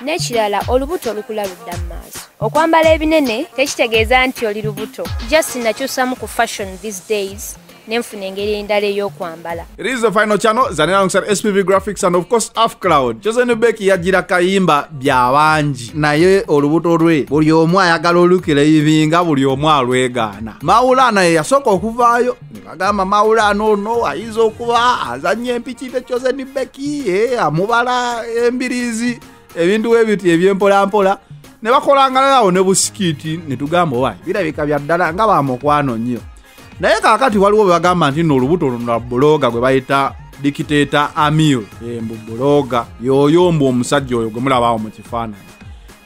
n'ekirala olubuto olukula ludda mu maaso okwambala ebinene tekitegeeza nti oli lubuto just nakyusamu ku fashion these days nenfuna engeri endala ey'okwambala it is the final channel zane alongside spv graphics and of course af cloud josen beck yajira kayimba byabangi naye olubuto lwe buli omu ayagala olukira ibinga buli omu alwegaana mawulana ye yasooka okuvaayo agamba mawulano ono ayinza okuba azanya empiki ne chosen beki eh, amubala embirizi ebintu webiti ebyempolampola ne bakolangalalawo ne busikiiti ne tugamba owaye birabika bya ddala nga bamukwano nnyo naye kakati waliwo bwe bagamba nti no olubuto luno lwa buloga gwe bayita dikiteeta amil eh, mbu buloga yoyo mbu omusajja oyo gwe mulabaawo mu kifaananyi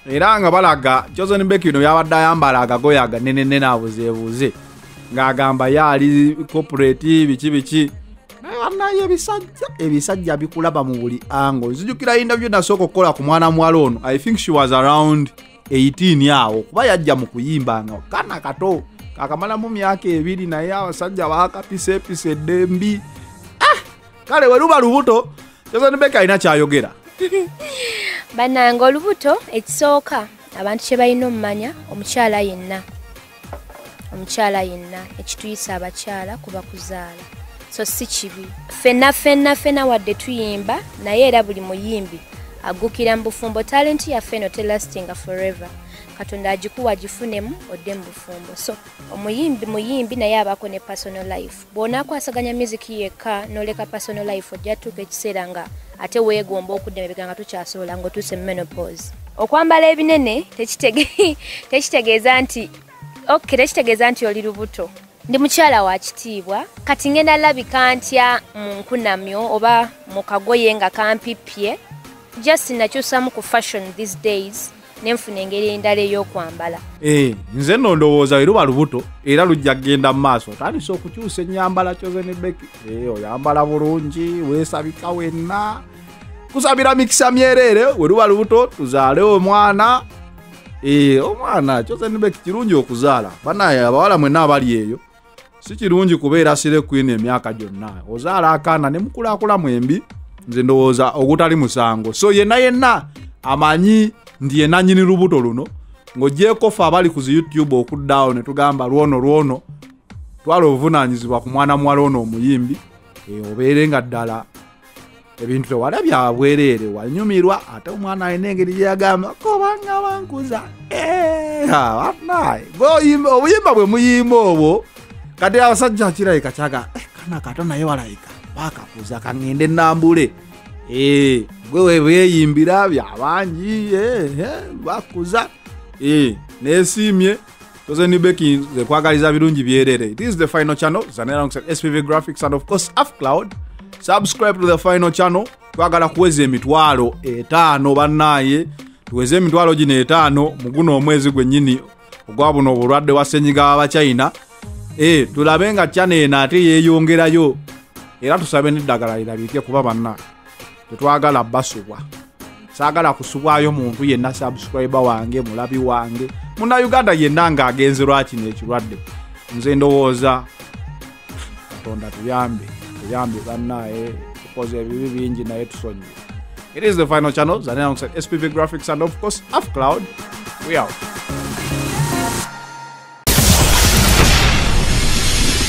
era nga balaga joson beck bino byabadde ayambala agagoya aganenene nabuzebuuze ng'agamba ye ali corporate biki biki naye ebisajja ebisajja bikulaba mu buli ango nzijukira yindabyo nasooka okukola ku mwana muwala ono i think she was around 18 awo kuba yajja mu kuyimba nga kana kato kakamalamu myaka ebiri naye abasajja bakapisa episa edembi ah! kale weluba lubuto jozanibeka alina kyayogera banange olubuto ekisooka abantu kyebalina omumanya omukyala yenna omukyala yenna ekituyisa abakyala kuba kuzaala so si kibi fenna fenna fena wadde tuyimba naye era buli muyimbi agukira mu bufumbo talenti yaffe eno telastinga forever katonda agikuwa agifunemu odde mu bufumbo so omuyimbi muyimbi naye abaako ne personal life bw'onaakwasaganya miziki yekka n'oleka personal life ojja tuuka ekiseera nga ate weegomba okudda emabega nga tukyasobola ng'otuuse mu menopause okwambala ebinene tekitegeeza nti ok tekitegeeza nti oli lubuto ndi mukyala wa kitiibwa kati ngenda labika ntya mu nkunamyo oba mu kagoye nga kampippye just nakyusamu ku fashion these days nenfuna engeri endala ey'okwambala eh, nze no ndowooza weruba lubuto era lujja kugenda mu maaso otandise okukyusa ennyambala kyozenebeki eh, oyambala bulungi weesabika wenna kusabira mikisa myereere weruba lubuto tuzaale omwana eh, omwana kyozenebeki kirungi okuzaala banaye abawala mwenna abali eyo si kirungi kubeera sire queen emyaka gyonna ozaala akaana ne mukulakula mwembi nze ndowooza ogutali musango so yenna yenna amanyi nti yenanyini lubuto luno ng'ogyeko fe abali ku zi youtube okuddaawo ne tugamba lwono lwono twala obuvunaanyizibwa ku mwana muwala ono omuyimbi eh, obeere nga ddala ebintu tewala byabwereere wanyumirwa ate omwana alina engeri gyeyagamba kobanga bankuza eh, banaye obuyimba bwe muyimba obwo kati abasajja akirayika kyaga eh, kana kato naye walayika bakakuza kangende nambule eh, gwe webweyimbira byabangi bakuza nesiimye Tozen Bekin, the Kwagaliza Birunji Bierere. This is the final channel, Zanera alongside SPV Graphics and of course Afcloud. Subscribe to the final channel. Twagala kuweza emitwalo etaano bannaye tuweze emitwalo gino etaano mu guno omwezi gwennyini ogwa buno obulwadde wa ssenyiga w'abachina e, tulabe nga chana eno ate yeeyongerayo era tusabe n'eddagala lirabike kuba banna tetwagala basubwa saagala kusubwayo muntu yenna subscribe wange mulabi wange muna uganda yenna nga agenze lwakino ekirwadde nze ndowooza katonda tuyambe tuyambe bannaye eh, tukoze ebibi bingi naye tusonyi it is the final channel zanalongside spv graphics and of course af cloud we out